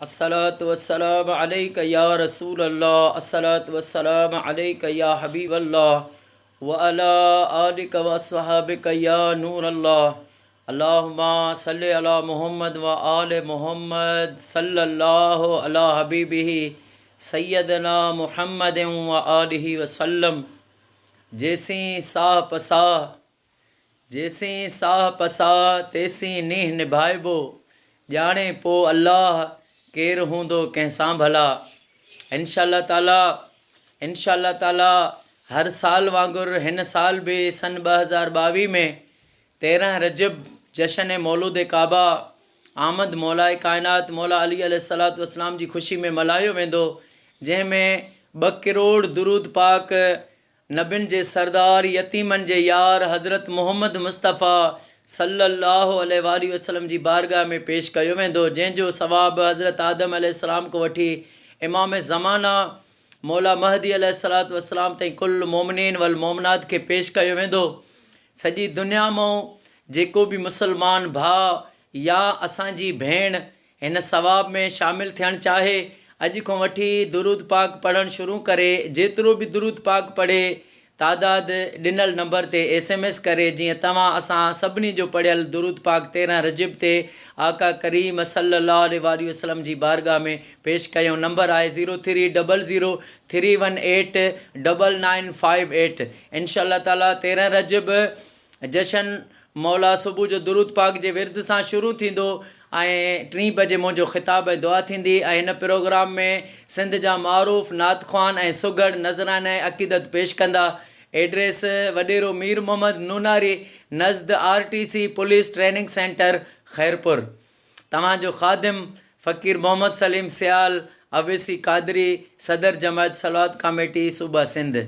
الصلوة والسلام عليک يا رسول الله الصلوة والسلام عليک يا حبيب الله وعلي آلک واصحابک يا نور الله اللهم صل علي محمد وآل محمد صلي الله علي حبيبه سيدنا محمد وآله وسلم جيسين ساهه پساهه جيسين ساهه پساهه تيسين نينهن نڀائبو، ڄاڻي پوء الله ڪير هوندو ڪنهن سان ڀلا. انشاء الله تعاليٰ انشاء الله تعاليٰ هر سال وانگر هن سال به سن ٻه هزار ٻاويهه ۾ تيرنهن رجب جشن مولود ڪعبه آمد مولائي ڪائنات مولا علي عليه الصلوة والسلام جي خوشي ۾ ملهايو ويندو جنهن ۾ ٻه ڪروڙ درود پاڪ نبين جي سردار يتيمن جي يار حضرت محمد مصطفيٰ صلّي اللّٰه عليه واٰله وسلّم جي بارگاھ ۾ پيش ڪيو ويندو جنهن جو ثواب حضرت آدم عليه السّلام کان وٺي امام زمانه مولا مهدي عليه الصّلوٰة والسّلام تائين ڪل المومنين والمومنات کي پيش ڪيو ويندو سڄي دنيا مئون جيڪو به مسلمان ڀاء يا اسان جي ڀيڻ هن ثواب ۾ شامل ٿيڻ چاهي اڄ کان وٺي درود پاڪ پڙهڻ شروع ڪري جيترو به درود پاڪ پڙهي تعداد ڏنل نمبر تي ايس ايم ايس ڪري جيئن توهان اسان سڀني جو پڙهيل درود پاڪ تيرهن رجب تي آقا ڪريم صلي الله عليه واٰله وسلم جي بارگاھ ۾ پيش ڪيون نمبر آهي zero three double zero three one eight double nine five eight انشاء الله تعالي تيرهن رجب جشن مولا صبح جو درود پاڪ جي ورد سان شروع ٿيندو ۽ ٽين بجي منهنجو خطاب ۽ دعا ٿيندي ۽ هن پروگرام ۾ سنڌ جا معروف نعت خوان ۽ سگهڙ نذرانه ۽ عقيدت پيش ڪندا ايڊريس وڏيرو مير محمد نوناري نزد R T C police training centre Khairpur توهان جو خادم فقير محمد سليم سيال اويسي قادري صدر جماعت صلوات ڪاميٽي صوبه سنڌ.